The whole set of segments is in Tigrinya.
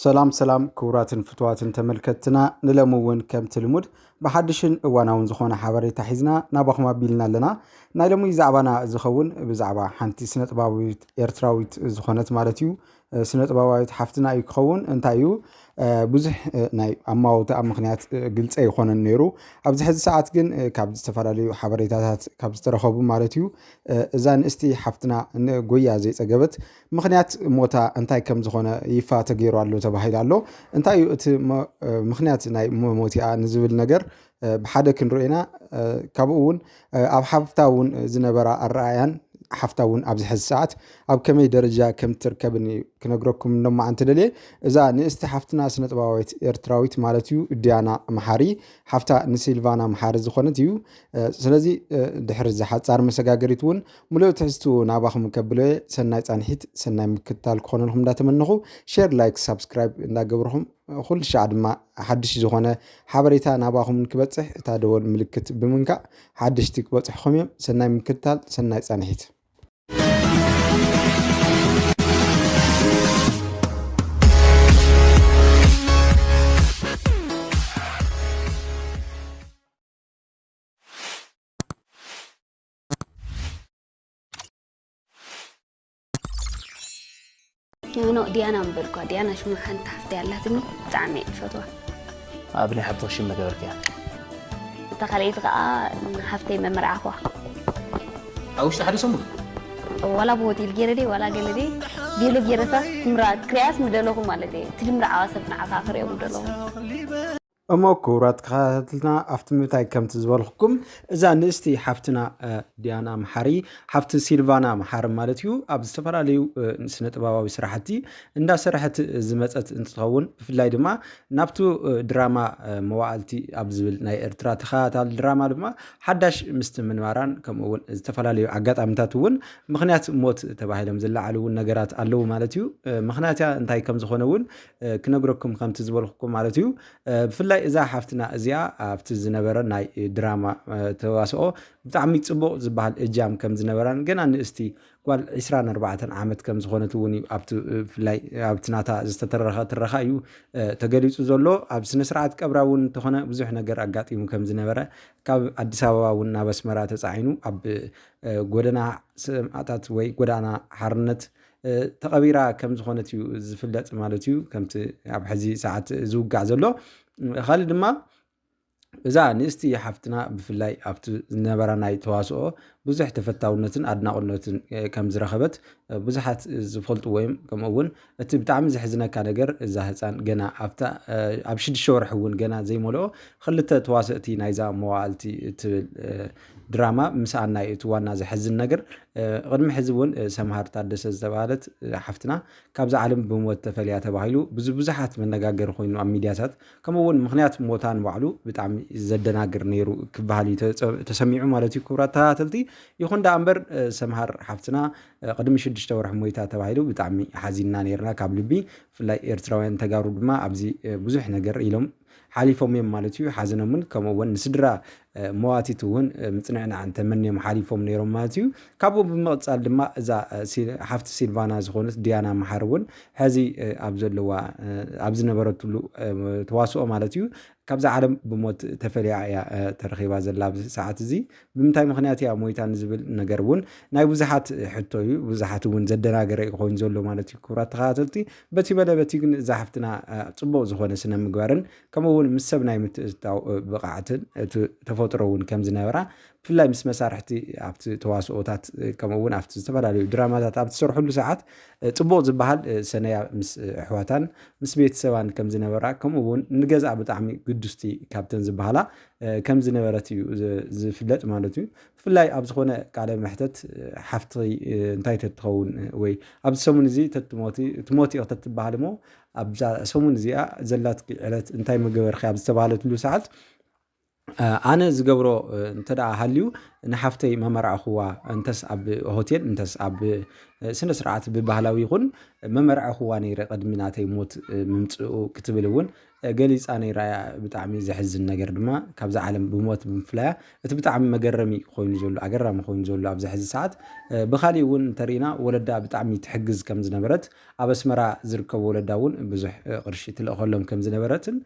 ሰላም ሰላም ክቡራትን ፍትዋትን ተመልከትትና ንለሚ እውን ከምቲ ልሙድ ብሓድሽን እዋናውን ዝኾነ ሓበሬታ ሒዝና ናባኹም ኣቢልና ኣለና ናይ ሎሚ ዛዕባና ዝኸውን ብዛዕባ ሓንቲ ስነ ጥባዊት ኤርትራዊት ዝኾነት ማለት እዩ ስነ ጥበባዊት ሓፍትና እዩ ክኸውን እንታይ እዩ ብዙሕ ናይ ኣማውትኣ ምክንያት ግልፀ ይኮነን ነይሩ ኣብዚ ሕዚ ሰዓት ግን ካብ ዝተፈላለዩ ሓበሬታታት ካብ ዝተረኸቡ ማለት እዩ እዛ ንእስቲ ሓፍትና ጎያ ዘይፀገበት ምኽንያት ሞታ እንታይ ከም ዝኾነ ይፋ ተገይሩ ኣሎ ተባሂሉ ኣሎ። እንታይ እዩ እቲ ምኽንያት ናይ መሞቲኣ ንዝብል ነገር ብሓደ ክንሪኦ ኢና። ካብኡ እውን ኣብ ሓፍታ እውን ዝነበራ ኣረኣያን ሓፍታ እውን ኣብዚ ሕዚ ሰዓት ኣብ ከመይ ደረጃ ከም ትርከብን እዩ ክነግረኩም ሎማዓንቲ ደልየ እዛ ንእስቲ ሓፍትና ስነጥበባዊት ኤርትራዊት ማለት እዩ ዲያና መሓሪ ሓፍታ ንሲልቫና መሓሪ ዝኾነት እዩ ስለዚ ድሕሪ እዚ ሓፃር መሰጋገሪት እውን ሙሉእ ትሕዝትኡ ናባኹም ከብሎየ ሰናይ ፃንሒት ሰናይ ምክትታል ክኾነልኩም እንዳተመነኹ ሼር ላይክ ሳብስክራይብ እንዳገብርኹም ኩሉ ሻዕ ድማ ሓድሽ ዝኾነ ሓበሬታ ናባኹም ክበፅሕ እታ ደወል ምልክት ብምንካእ ሓድሽቲ ክበፅሕኹም እዮም ሰናይ ምክትታል ሰናይ ፃንሒት ኖ ዲያና እምበር እኳ ዲያና ሽማ ሓንቲ ሓፍቲ ኣላትኒ ብጣዕሚ እየ ዝፈትዋ ኣብ ናይ ሓብትኽ ሽም መገበርክያ እታ ካልኣይቲ ከዓ ሓፍተይ መመርዓኹዋ ኣብ ውሽጢ ሓደ ሰሙን ዋላ ብሆቴል ገይረ ደይ ዋላ ገለ ደይ ገለ ገይረታ ክምራ ክሪያስ ምደለኹ ማለት እየ እቲ ድምርዓዋ ሰብ ንዓኻ ክሪኦም ምደለኹ እሞ ክቡራት ተኸታተልትና ኣብቲ ምንታይ ከምቲ ዝበልኩኩም እዛ ንእስቲ ሓፍትና ዲያና መሓሪ ሓፍቲ ሲልቫና መሓሪ ማለት እዩ ኣብ ዝተፈላለዩ ስነ ጥበባዊ ስራሕቲ እንዳሰራሕት ዝመፀት እንትኸውን ብፍላይ ድማ ናብቲ ድራማ መዋእልቲ ኣብ ዝብል ናይ ኤርትራ ተኸታታሊ ድራማ ድማ ሓዳሽ ምስቲ ምንባራን ከምኡ እውን ዝተፈላለዩ ኣጋጣሚታት እውን ምክንያት ሞት ተባሂሎም ዝለዓሉ እውን ነገራት ኣለዉ ማለት እዩ። ምክንያት እንታይ ከም ዝኾነ እውን ክነግረኩም ከምቲ ዝበልኩኩም ማለት እዩ ብፍላይ እዛ ሓፍትና እዚኣ ኣብቲ ዝነበረ ናይ ድራማ ተዋስኦ ብጣዕሚ ፅቡቅ ዝበሃል እጃም ከም ዝነበራን ገና ንእስቲ ጓል 24 ዓመት ከም ዝኾነት እውን እዩ ብፍላይ ኣብቲ ናታ ዝተተረኸ ትረኻ እዩ ተገሊፁ ዘሎ ኣብ ስነ ስርዓት ቀብራ እውን እንተኾነ ብዙሕ ነገር ኣጋጢሙ ከም ዝነበረ ካብ ኣዲስ ኣበባ እውን ናብ ኣስመራ ተፃዒኑ ኣብ ጎደና ሰማእታት ወይ ጎዳና ሓርነት ተቐቢራ ከም ዝኾነት እዩ ዝፍለጥ ማለት እዩ ከምቲ ኣብ ሕዚ ሰዓት ዝውጋዕ ዘሎ ካልእ ድማ እዛ ንእስቲ ሓፍትና ብፍላይ ኣብቲ ዝነበራ ናይ ተዋስኦ ብዙሕ ተፈታውነትን ኣድናቑነትን ከም ዝረኸበት ብዙሓት ዝፈልጡ ወይም ከምኡ እውን እቲ ብጣዕሚ ዘሕዝነካ ነገር እዛ ህፃን ገና ኣብታ ኣብ ሽዱሽተ ወርሒ እውን ገና ዘይመልኦ ክልተ ተዋሰእቲ ናይዛ መዋእልቲ እትብል ድራማ ምስኣና እዩ እቲ ዋና ዘሕዝን ነገር ቅድሚ ሕዚ እውን ሰምሃር ታደሰ ዝተባሃለት ሓፍትና ካብዚ ዓለም ብሞት ተፈልያ ተባሂሉ ብዙ ብዙሓት መነጋገሪ ኮይኑ ኣብ ሚዲያታት ከምኡ እውን ምክንያት ሞታ ንባዕሉ ብጣዕሚ ዘደናግር ነይሩ ክበሃል እዩ ተሰሚዑ ማለት እዩ ክቡራት ተኸታተልቲ ይኹን ዳኣ እምበር ሰምሃር ሓፍትና ቅድሚ ሽዱሽተ ወርሒ ሞይታ ተባሂሉ ብጣዕሚ ሓዚንና ነይርና ካብ ልቢ ብፍላይ ኤርትራውያን ተጋሩ ድማ ኣብዚ ብዙሕ ነገር ኢሎም ሓሊፎም እዮም ማለት እዩ። ሓዘኖምን ከምኡ እውን ንስድራ መዋቲት እውን ምፅንዕናዕን ተመንዮም ሓሊፎም ነይሮም ማለት እዩ። ካብኡ ብምቕፃል ድማ እዛ ሓፍቲ ሲልቫና ዝኾነት ዲያና መሓር እውን ሕዚ ኣብ ዘለዋ ኣብ ዝነበረትሉ ተዋስኦ ማለት እዩ ካብዚ ዓለም ብሞት ተፈልያ እያ ተረኺባ ዘላ ኣብዚ ሰዓት እዚ ብምንታይ ምክንያት እያ ሞይታ ንዝብል ነገር እውን ናይ ብዙሓት ሕቶ እዩ ብዙሓት እውን ዘደናገረ እዩ ኮይኑ ዘሎ ማለት እዩ ክብራት ተኸታተልቲ በቲ በለ በቲ ግን እዛ ሓፍትና ፅቡቅ ዝኾነ ስነ ምግባርን ከምኡ እውን ምስ ሰብ ናይ ምትእትታው ብቕዓትን እቲ ተፈጥሮ እውን ከም ዝነበራ ብፍላይ ምስ መሳርሕቲ ኣብቲ ተዋስኦታት ከምኡ እውን ኣብቲ ዝተፈላለዩ ድራማታት ኣብ ትሰርሕሉ ሰዓት ፅቡቅ ዝበሃል ሰነያ ምስ ኣሕዋታን ምስ ቤተሰባን ከም ዝነበራ ከምኡ እውን ንገዛ ብጣዕሚ ግዱስቲ ካብተን ዝበሃላ ከም ዝነበረት እዩ ዝፍለጥ ማለት እዩ። ብፍላይ ኣብ ዝኾነ ቃለ መሕተት ሓፍቲ እንታይ ተትኸውን ወይ ኣብዚ ሰሙን እዚ ተትሞቲ ትሞቲ ኢኽ ተትበሃል እሞ ኣብዛ ሰሙን እዚኣ ዘላትኪ ዕለት እንታይ ምገበርኪ ኣብ ዝተባሃለትሉ ሰዓት ኣነ ዝገብሮ እንተደኣ ሃልዩ ንሓፍተይ መመርዕኹዋ እንተስ ኣብ ሆቴል እንተስ ኣብ ስነ ስርዓት ብባህላዊ ይኹን መመርዕኹዋ ነይረ ቅድሚ ናተይ ሞት ምምፅኡ ክትብል እውን ገሊጻ ነይራ እያ። ብጣዕሚ ዘሕዝን ነገር ድማ ካብዛ ዓለም ብሞት ብምፍላያ እቲ ብጣዕሚ መገረሚ ኮይኑ ዘሎ ኣገራሚ ኮይኑ ዘሎ ኣብዚ ሕዚ ሰዓት ብካሊእ እውን እንተሪኢና ወለዳ ብጣዕሚ ትሕግዝ ከም ዝነበረት ኣብ ኣስመራ ዝርከቡ ወለዳ እውን ብዙሕ ቅርሺ ትልእኸሎም ከም ዝነበረትን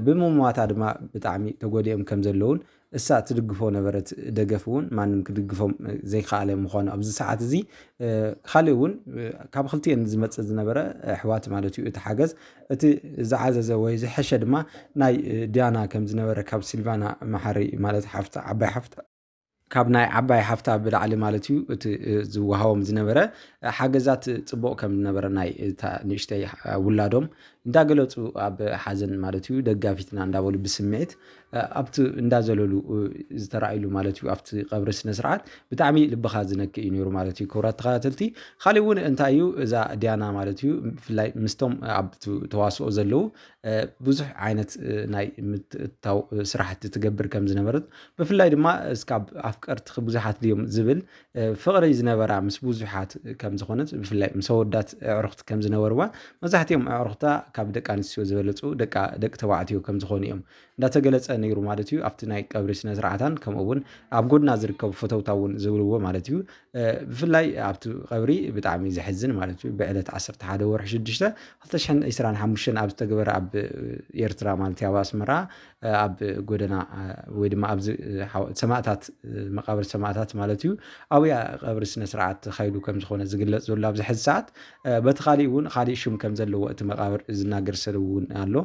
ብምሟታ ድማ ብጣዕሚ ተጎዲኦም ከም ዘለውን እሳ ትድግፎ ነበረት ደገፍ እውን ማንም ክድግፎም ዘይከኣለ ምዃኑ ኣብዚ ሰዓት እዚ ካልእ እውን ካብ ክልቲኤን ዝመፅእ ዝነበረ ኣሕዋት ማለት እዩ እቲ ሓገዝ እቲ ዝዓዘዘ ወይ ዝሐሸ ድማ ናይ ዲያና ከም ዝነበረ ካብ ሲልቫና መሓሪ ማለት ሓፍታ ዓባይ ሓፍታ ካብ ናይ ዓባይ ሓፍታ ብላዕሊ ማለት እዩ እቲ ዝወሃቦም ዝነበረ ሓገዛት ፅቡቕ ከም ዝነበረ ናይ እታ ንእሽተይ ውላዶም እንዳገለፁ ኣብ ሓዘን ማለት እዩ ደጋፊትና እንዳበሉ ብስምዒት ኣብቲ እንዳ ዘለሉ ዝተረኣይሉ ማለት እዩ ኣብቲ ቀብሪ ስነስርዓት ብጣዕሚ ልብኻ ዝነክእ እዩ ነይሩ ማለት እዩ ክብራት ተኸታተልቲ ካሊእ እውን እንታይ እዩ እዛ ዲያና ማለት እዩ ብፍላይ ምስቶም ኣብ ተዋስኦ ዘለዉ ብዙሕ ዓይነት ናይ ምትእታው ስራሕቲ ትገብር ከም ዝነበረት ብፍላይ ድማ እስካብ ኣፍቀርትኺ ብዙሓት ድዮም ዝብል ፍቕሪ ዝነበራ ምስ ብዙሓት ከም ዝኾነት ብፍላይ ምስ ኣወዳት ኣዕሩኽቲ ከም ዝነበርዋ መብዛሕትኦም ኣዕሩኽታ ካብ ደቂ ኣንስትዮ ዝበለፁ ደቂ ተባዕትዮ ከም ዝኾኑ እዮም እንዳተገለፀ ነይሩ ማለት እዩ ኣብቲ ናይ ቀብሪ ስነ ስርዓታን ከምኡ እውን ኣብ ጎድና ዝርከቡ ፈተውታ እውን ዝብልዎ ማለት እዩ ብፍላይ ኣብቲ ቀብሪ ብጣዕሚ ዘሕዝን ማለት እዩ ብዕለት 11 ወርሒ 6 2025 ኣብ ዝተገበረ ኣብ ኤርትራ ማለት ኣብ ኣስመራ ኣብ ጎደና ወይ ድማ ኣብዚ ሰማእታት መቃብር ሰማእታት ማለት እዩ ኣብያ ቀብሪ ስነ ስርዓት ተኻይዱ ከም ዝኾነ ዝግለጽ ዘሎ ኣብዚ ሕዚ ሰዓት በቲ ካሊእ እውን ካሊእ ሽም ከም ዘለዎ እቲ መቃብር ዝናገር ሰብ እውን ኣሎ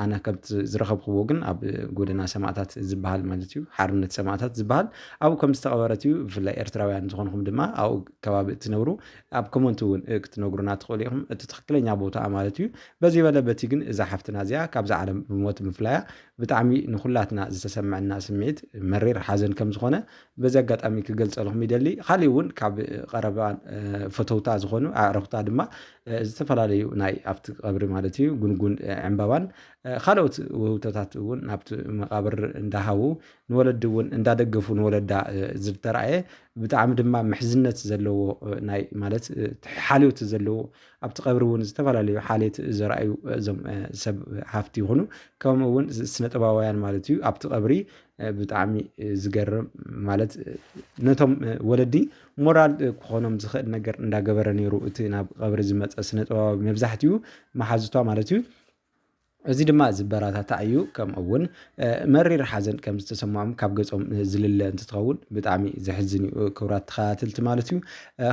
ኣነ ከምቲ ዝረኸብክዎ ግን ኣብ ጎደና ሰማእታት ዝበሃል ማለት እዩ ሓርነት ሰማእታት ዝበሃል ኣብኡ ከም ዝተቐበረት እዩ ብፍላይ ኤርትራውያን ዝኾንኹም ድማ ኣብኡ ከባቢ እትነብሩ ኣብ ኮመንት እውን ክትነግሩና ትኽእሉ ኢኹም እቲ ትኽክለኛ ቦታ ማለት እዩ በዚ በለ በቲ ግን እዛ ሓፍትና እዚኣ ካብዛ ዓለም ብሞት ምፍላያ ብጣዕሚ ንኹላትና ዝተሰመዐና ስምዒት መሪር ሓዘን ከም ዝኾነ በዚ ኣጋጣሚ ክገልጸልኹም ይደሊ። ካሊእ እውን ካብ ቀረባ ፈተውታ ዝኾኑ ኣዕርኽታ ድማ ዝተፈላለዩ ናይ ኣብቲ ቀብሪ ማለት እዩ ጉንጉን ዕምባባን ካልኦት ውህብቶታት እውን ናብቲ መቃብር እንዳሃቡ ንወለዲ እውን እንዳደገፉ ንወለዳ ዝተረኣየ ብጣዕሚ ድማ ምሕዝነት ዘለዎ ናይ ማለት ሓልዮት ዘለዎ ኣብቲ ቀብሪ እውን ዝተፈላለዩ ሓልየት ዘርኣዩ እዞም ሰብ ሃፍቲ ይኹኑ ከምኡ እውን ስነጥበባውያን ማለት እዩ ኣብቲ ቀብሪ ብጣዕሚ ዝገርም ማለት ነቶም ወለዲ ሞራል ክኾኖም ዝኽእል ነገር እንዳገበረ ነይሩ እቲ ናብ ቀብሪ ዝመፀ ስነጥበባዊ መብዛሕትኡ መሓዙቷ ማለት እዩ እዚ ድማ ዝበራታታዕ እዩ ከምኡ እውን መሪር ሓዘን ከም ዝተሰምዖም ካብ ገጾም ዝልለ እንትትኸውን ብጣዕሚ ዘሕዝን እዩ ክብራት ተኸታተልቲ ማለት እዩ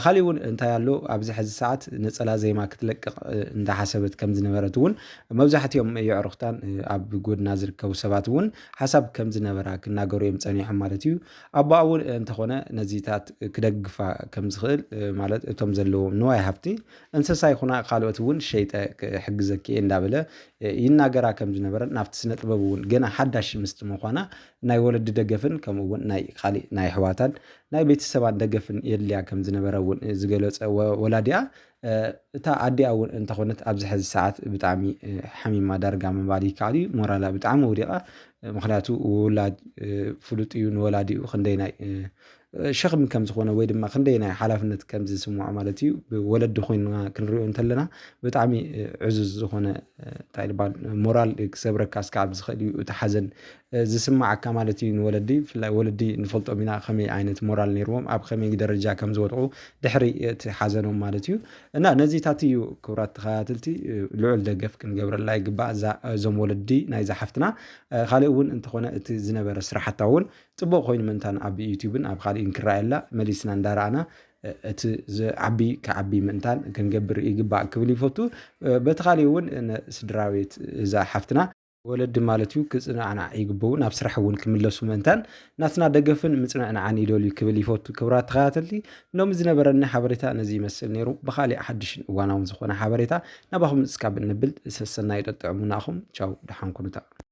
ካሊእ እውን እንታይ ኣሎ ኣብዚ ሕዚ ሰዓት ነፀላ ዜማ ክትለቅቕ እንዳሓሰበት ከም ዝነበረት እውን መብዛሕትኦም የዕሩኽታን ኣብ ጎድና ዝርከቡ ሰባት እውን ሓሳብ ከም ዝነበራ ክናገሩ እዮም ፀኒሖም ማለት እዩ ኣቦኣ እውን እንተኾነ ነዚታት ክደግፋ ከም ዝኽእል ማለት እቶም ዘለዎም ንዋይ ሃፍቲ እንስሳ ይኹና ካልኦት እውን ሸይጠ ክሕግዘኪ እየ እንዳበለ ይናገራ ከም ዝነበረን ናብቲ ስነ ጥበብ እውን ገና ሓዳሽ ምስቲ ምዃና ናይ ወለዲ ደገፍን ከምኡ እውን ናይ ካሊእ ናይ ኣሕዋታን ናይ ቤተሰባን ደገፍን የድልያ ከም ዝነበረ እውን ዝገለፀ ወላዲኣ እታ ኣዲኣ እውን እንተኾነት ኣብዚ ሕዚ ሰዓት ብጣዕሚ ሓሚማ ዳርጋ ምባል ይከኣል እዩ ሞራላ ብጣዕሚ ወዲቓ ምክንያቱ ውላድ ፍሉጥ እዩ ንወላዲኡ ክንደይናይ ሸኽሚ ከም ዝኾነ ወይ ድማ ክንደይ ናይ ሓላፍነት ከም ዝስምዖ ማለት እዩ ብወለዲ ኮይንና ክንሪኦ እንተለና ብጣዕሚ ዕዙዝ ዝኾነ እንታይ ልባል ሞራል ክሰብረካ ስካብ ዝኽእል እዩ እቲ ሓዘን ዝስማዓካ ማለት እዩ ንወለዲ ብፍላይ ወለዲ ንፈልጦም ኢና ከመይ ዓይነት ሞራል ነይርዎም ኣብ ከመይ ደረጃ ከም ዝወድቑ ድሕሪ እቲ ሓዘኖም ማለት እዩ እና ነዚታት እዩ ክብራት ተኸታተልቲ ልዑል ደገፍ ክንገብረላ ይግባእ እዛ እዞም ወለዲ ናይዛ ሓፍትና ካልእ እውን እንተኾነ እቲ ዝነበረ ስራሕታ እውን ጽቡቅ ኮይኑ ምእንታን ኣብ ዩቱብን ኣብ ኻሊእን ክረኣየላ መሊስና እንዳረኣና እቲ ዝዓቢ ክዓቢ ምእንታን ክንገብር ይግባእ ክብል ይፈቱ በቲ ኻሊእ እውን ስድራቤት እዛ ሓፍትና ወለዲ ማለት እዩ ክጽናዕናዕ ይግበኡ ናብ ስራሕ እውን ክምለሱ ምእንታን ናትና ደገፍን ምጽንዕናዕን ይደልዩ ክብል ይፈቱ ክብራት ተኸታተልቲ ሎሚ ዝነበረኒ ሓበሬታ ነዚ ይመስል ነይሩ ብኻሊእ ሓድሽን እዋናውን ዝኾነ ሓበሬታ ናባኹም እስካብ እንብል ሰሰናዩ ጠጥዕሙና ኣኹም ቻው ደሓን ኩኑታ